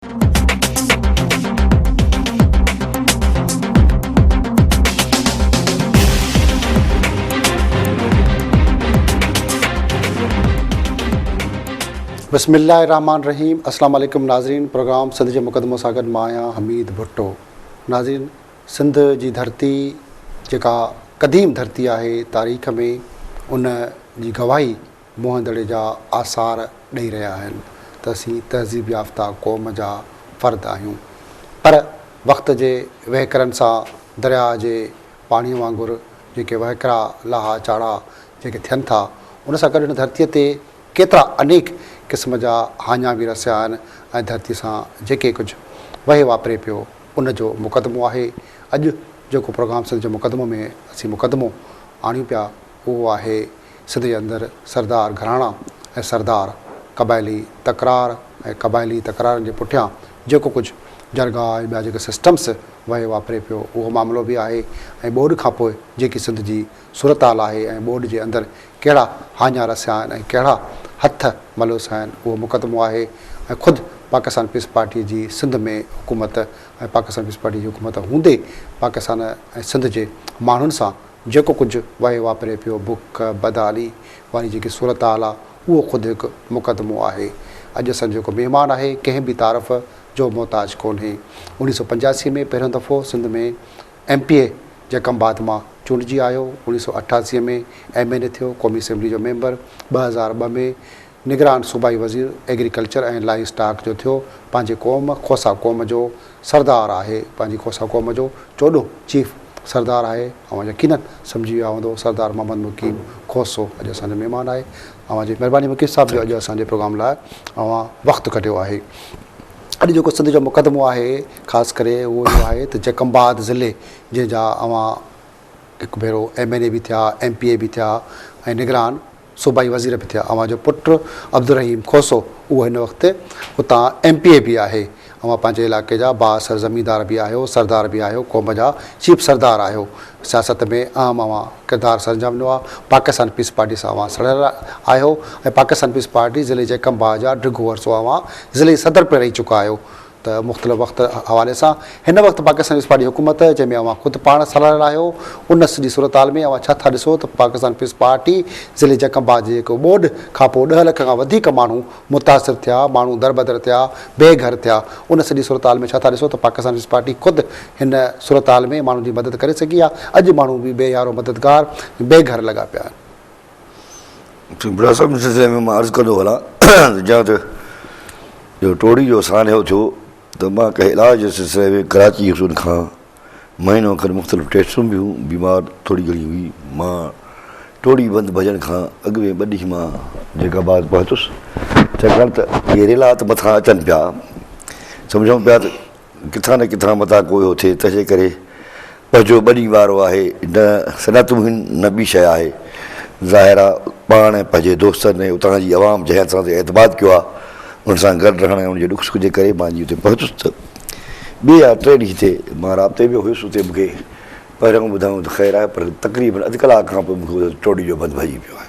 بسم الله الرحمن الرحيم اسلام عليڪم ناظرين پروگرام سنڌ جي مقدمو سان گڏ مان آهيان حميد ڀٽو ناظرين سنڌ جي ڌرتي جيڪا قديم ڌرتي آهي تاريخ ۾ ان جي گواهي موهندڙي جا آثار ڏئي رهيا آهن ته اسين تهذيب يافته قوم جا فرد آهيون پر وقت جي وهڪرن سان درياء جي پاڻي وانگر جيڪي وهڪرا لاها چاڙها جيڪي ٿين ٿا ان سان گڏ هن ڌرتي تي ڪيترا انيڪ قسم جا هاڃا به رسيا آهن ۽ ڌرتي سان جيڪي ڪجهه وهي واپري پيو ان جو مقدمو آهي اڄ جيڪو پروگرام سنڌ جو مقدمو ۾ اسين مقدمو آڻيون پيا اهو آهي سنڌ جي اندر سردار گهراڻا ۽ سردار قبائلي تڪرار ۽ قبائلي تڪرارن جي پٺيان جيڪو ڪجهه جرڳا ۽ ٻيا جيڪي سسٽمس وهي واپري پيو اهو معاملو به آهي ۽ ٻوڏ کان پوء جيڪي سنڌ جي صورتحال آهي ۽ ٻوڏ جي اندر ڪهڙا هاڃا رسيا آهن ۽ ڪهڙا هٿ ملوث آهن اهو مقدمو آهي ۽ خود پاڪستان پيپلز پارٽي جي سنڌ ۾ حڪومت ۽ پاڪستان پيپلز پارٽي جي حڪومت هوندي پاڪستان ۽ سنڌ جي ماڻهن سان جيڪو ڪجهه وهي واپري پيو، بک، بدحالي واري جيڪي صورتحال آ، اهو خود هڪ مقدمو آهي. اڄ اسان جو جيڪو مهمان آهي، ڪنهن به تعارف جو محتاج ڪونهي. اڻيهه سؤ پنجاسي ۾ پهريون دفعو سنڌ ۾ ايم پي اي جي کنڀات مان چونڊجي آيو، اڻيهه سؤ اٺاسي ۾ ايم اين اي ٿيو، قومي اسيمبلي جو ميمبر، ٻه هزار ٻه ۾ نگران صوبائي وزير ايگريڪلچر ۽ لائي اسٽاڪ جو ٿيو پنهنجي قوم کوسا قوم جو سردار آهي پنهنجي کوسا قوم جو چوڏهون چيف سردار آهي اوهان يقينن سمجهي ويا هوندو سردار محمد مقيم کوسو اڄ اسان جو مهمان آهي اوهان جي مهرباني مقيم صاحب جو اڄ اسان جي پروگرام لاء اوهان وقت ڪڍيو آهي اڄ جيڪو سنڌ جو مقدمو آهي خاص ڪري اهو اهو آهي ته جيڪم آباد ضلعي جنهن جا اوهان هڪ ڀيرو ايم اين اي به ٿيا ايم پي اي به ٿيا ۽ نگران صوبائي وزير به ٿيا. اوهان جو پٽ عبدالرحيم کوسو اهو هن وقت اتان ايم پي اي به آهي. اوهان پنهنجي علائقي جا بااثر زميندار به آهيو، سردار به آهيو، قوم جا چيف سردار آهيو. سياست ۾ اهم اوهان ڪردار سرانجام ڏنو آهي. پاڪستان پيپلز پارٽي سان اوهان سڙهيل آهيو ۽ پاڪستان پيپلز پارٽي ضلعي جيڪب باء جا ڊگهو عرصو اوهان ضلعي صدر پڻ رهي چڪا آهيو. ته مختلف وقت حوالي سان هن وقت پاڪستان پيپلز پارٽي حڪومت جنهن ۾ اوهان خود پاڻ صلاح لاء آهيو ان سڄي صورتحال ۾ اوهان ڇا ٿا ڏسو ته پاڪستان پيپلز پارٽي ضلعي جڪ آباد جي جيڪو ٻوڏ کانپوء ڏهه لک کان وڌيڪ ماڻهو متاثر ٿيا ماڻهو دربدر ٿيا بي گهر ٿيا ان سڄي صورتحال ۾ ڇا ٿا ڏسو ته پاڪستان پيپلز پارٽي خود هن صورتحال ۾ ماڻهن جي مدد ڪري سگهي يا اڄ ماڻهو به بي يارو مددگار بي گهر لڳا پيا آهن. ڀٽائي صاحب جي سلسلي ۾ مان عرض ڪندو هلان ته جيئن ته جو ٽوڙي جو سانحو ٿيو ته مان ڪنهن علاج جي سلسلي ۾ ڪراچي هيس ان کان مهينو کن مختلف ٽيسٽون به هيون بيمار ٿوري گهڻي هئي مان ٽوڙي بند ڀڄڻ کان اڳ ۾ ٻه ڏينهن مان جيڪا بعد پهتس ڇاڪاڻ ته اهي ريلا ته مٿان اچن پيا سمجهون پيا ته ڪٿان نه ڪٿان متان ڪو اهو ٿئي تنهنجي ڪري پنهنجو ٻني وارو آهي نه صنعتون هن نه ٻي شيء آهي ظاهر آ پاڻ ۽ پنهنجي دوستن ۽ اتان جي عوام جنهن اسان تي اعتماد ڪيو آ ان سان گڏ رهڻ ۽ ان جي ڏک سک جي ڪري مان جي اتي پهتس ته ٻي يا ٽي ڏينهن تي مان رابطي ۾ هيس اتي مونکي پهريون ٻڌايون ته خير آهي پر تقريبن اڌ ڪلاڪ کان پوء مونکي ٻڌايو ته ٽوڊي جو بند ڀڄي پيو آهي.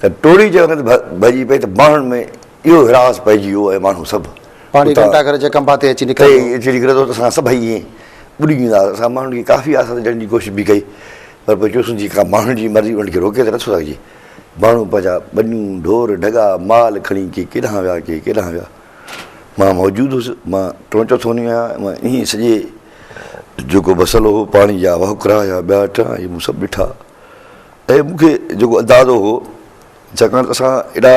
ته ٽوڙي جي وقت ڀڄي پئي ته ماڻهن ۾ اهو هراس پئجي ويو ۽ ماڻهو سڀ پاڻي گهنٽا گهر جي کنڀا تي اچي نڪري ٿو. اچي نڪري ٿو ته اسان سڀئي ائين ٻڏي ويندا هئاسين. اسان ماڻهن کي ڪافي آسرا ڏيڻ جي ڪوشش به ڪئي پر پوء چيوسون جيڪا ماڻهن جي مرضي انهن کي روڪي ته نٿو سگهجي. ماڻهو پنهنجا ٻنيون، ڍور، ڍڳا، مال کڻي ڪي ڪيڏانهن ويا ڪي ڪيڏانهن ويا. مان موجود هوس. مان ٽون چوٿون نيو آهيان. مان انهيء سڄي جيڪو مسئلو هو پاڻي جا وهڪرا يا ٻيا ٽيا اهي مون سڀ ڏٺا. اهي مون کي جيڪو اندازو هو ڇاڪاڻ ته اسان ايڏا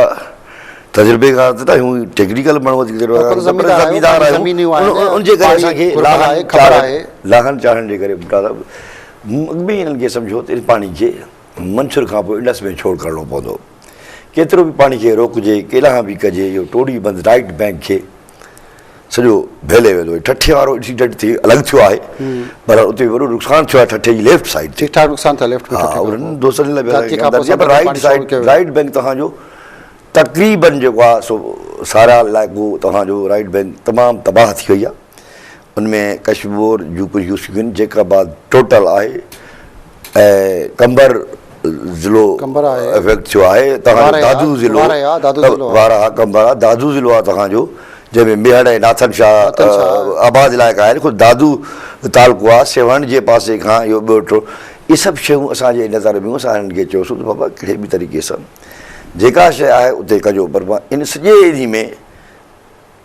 تجربيڪار ته نه آهيون اهي ٽيڪنيڪل ماڻهو وڌيڪ تجربيڪار آهن زميندار آهيون ان جي ڪري اسان کي لاهن چاڙهن جي ڪري ڀٽا صاحب مون اڳ ۾ ئي انهن کي سمجهيو ته ان پاڻي کي منڇر کان پوء انڊس ۾ ڇوڙ ڪرڻو پوندو ڪيترو به پاڻي کي روڪجي ڪيڏانهن به ڪجي اهو ٽوڙي بند رائيٽ بئنڪ کي سڄو ڀيلي ويندو آهي ٺٺي وارو انسيڊنٽ ٿي الڳ ٿيو آهي پر اتي وڏو نقصان ٿيو آهي ٺٺي جي ليفٽ سائيڊ تي ٺاڪ نقصان ٿيو ليفٽ ها انهن دوستن لاء ڌرتي کان پوء سڀ رائيٽ سائيڊ رائيٽ بئنڪ تهان جو تقريبن جيڪو آهي سو سارا علائقو تهان جو رائيٽ بئنڪ تمام تباهه ٿي وئي آهي ان ۾ ڪشمور، جوڪو يوسفين جيڪاباد ٽوٽل آهي ۽ قمبر ضلعو افيڪٽ ٿيو آهي، تنهن کان دادو ضلعو، وارهه قمبر آهي، دادو ضلعو آهي تنهن جو، جنهن ۾ ميهڙ ۽ ناٿن شاهه آباد علائقا آهن، خود دادو تعلقو آهي، سيوهڻ جي پاسي کان اهو ٻيو ٽو، اهي سڀ شيون اسان جي نظر ۾ هيون، اسان هنن کي چيوسون ته بابا ڪنهن به طريقي سان جيڪا شيء آهي اتي ڪجو، پر ان سڄي ايري ۾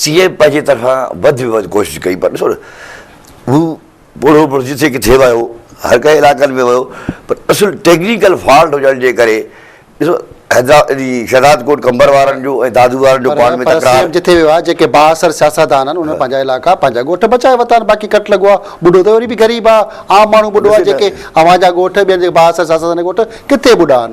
سي ايم پنهنجي طرفان وڌ ۾ وڌ ڪوشش ڪئي پر ڏسو نه هو پوڙهو پوڙهو جتي ڪٿي ويو هر ڪنهن علاقن ۾ ويو پر اصل ٽيڪنيڪل فالٽ هجڻ جي ڪري ڏسو حيدرآباد شهداد ڪوٽ قمبر وارن جو ۽ دادو وارن جو پاڻ ۾ تڪرار. پر سي ايم جتي ويو آهي جيڪي بااثر سياستدان آهن انهن پنهنجا علائقا پنهنجا ڳوٺ بچائي ورتا آهن باقي ڪٽ لڳو آهي ٻڍو ته وري به غريب آهي عام ماڻهو ٻڍو آهي جيڪي اوهان جا ڳوٺ ٻين جي بااثر سياستدان جا ڳوٺ ڪٿي ٻڍا آهن.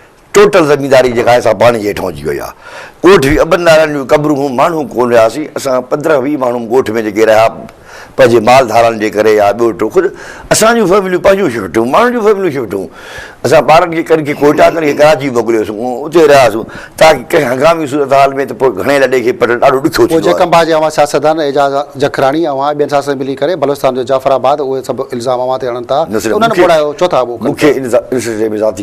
ٽوٽل زمينداري جيڪا آهي سا پاڻي جي هيٺان اچي وئي آهي. ڳوٺ هي ابن نارائڻ جون قبرون هون ماڻهو ڪونه رهياسين اسان پندرهن ويهه ماڻهو ڳوٺ ۾ جيڪي رهيا پنهنجي مال ڌاران جي ڪري يا ٻيو ٽيو ڪجهه اسان جون فيمليون پنهنجون شفٽ هيون ماڻهن جون فيمليون شفٽ هيون اسان ٻارن کي ڪن کي ڪوئيٽا ڪن کي ڪراچي موڪليوسون اتي رهياسون تاڪه ڪنهن هنگامي صورتحال ۾ ته پوء گهڻي لڏي کي پٽڻ ڏاڍو ڏکيو ٿيندو آهي. جيڪب باجي اوهان سياستدان اعجاز جکراڻي اوهان ۽ ٻين سياستدانن ملي ڪري بلوچستان جو جعفر آباد اهي سڀ الزام اوهان تي هڻن ٿا ته انهن ٻوڙايو چوٿا ابو کن ٿا. مونکي ان سلسلي ۾ ذاتي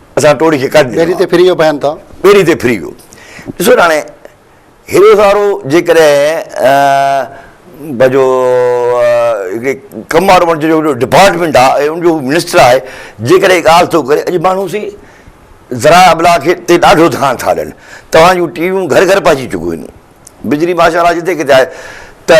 اسان ٽوڙي کي ڪڍ ڏنو آهي. ٻيڙي تي ڦري ويو بيان تان. ٻيڙي تي ڦري ويو. ڏسو ته هاڻي هيڏو سارو جيڪڏهن پنهنجو هڪڙي ڪم وارو ماڻهو جنهنجو هيڏو ڊپارٽمينٽ آهي ۽ ان جو هو منسٽر آهي جيڪڏهن هي ڳالهه ٿو ڪري اڄ ماڻهو سي ذرائع ابلاغ کي تي ڏاڍو ڌيان ٿا ڏين. توهان جون ٽي ويون گهر گهر پهچي چڪيون آهن. بجلي ماشاءالله جتي ڪٿي آهي ته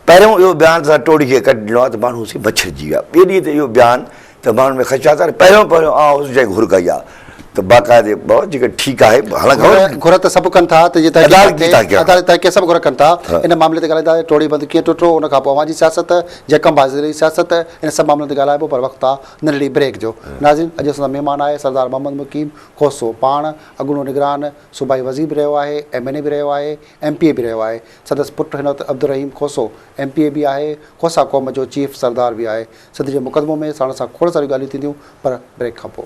پهريون اهو بيان ته اسان ٽوڙي کي ڪڍ ڏنو آهي ته ماڻهو سي مڇرجي ويا. ٻيڙي تي اهو بيان ته ماڻهن ۾ خدشا ته پهريون پهريون آء هوس جنهن گهر ڪئي آهي ته باقاعدي بابا جيڪڏهن ٺيڪ آهي حالانڪ گهر ته سڀ ڪن ٿا ته جيئن عدالت جي تحقيق عدالت جي تحقيق سڀ گهر ڪن ٿا ان معاملي تي ڳالهائيندا ته ٽوڙي بند ڪيئن ٽٽو ان کان پوء اوهان جي سياست جيڪم بازري جي سياست ان سڀ معاملن تي ڳالهائبو پر وقت آهي ننڍڙي بريڪ جو ناظرين اڄ اسان سان مهمان آهي سردار محمد مقيم کوسو پاڻ اڳوڻو نگران صوبائي وزير به رهيو آهي ايم اين اي به رهيو آهي ايم پي اي به رهيو آهي سندس پٽ هن وقت Abdul Rahim Khoso M P A به آهي کوسا قوم جو چيف سردار به آهي سنڌ جي مقدمو ۾ ساڻس سان کوڙ ساريون ڳالهيون ٿينديون پر بريڪ کان پوء.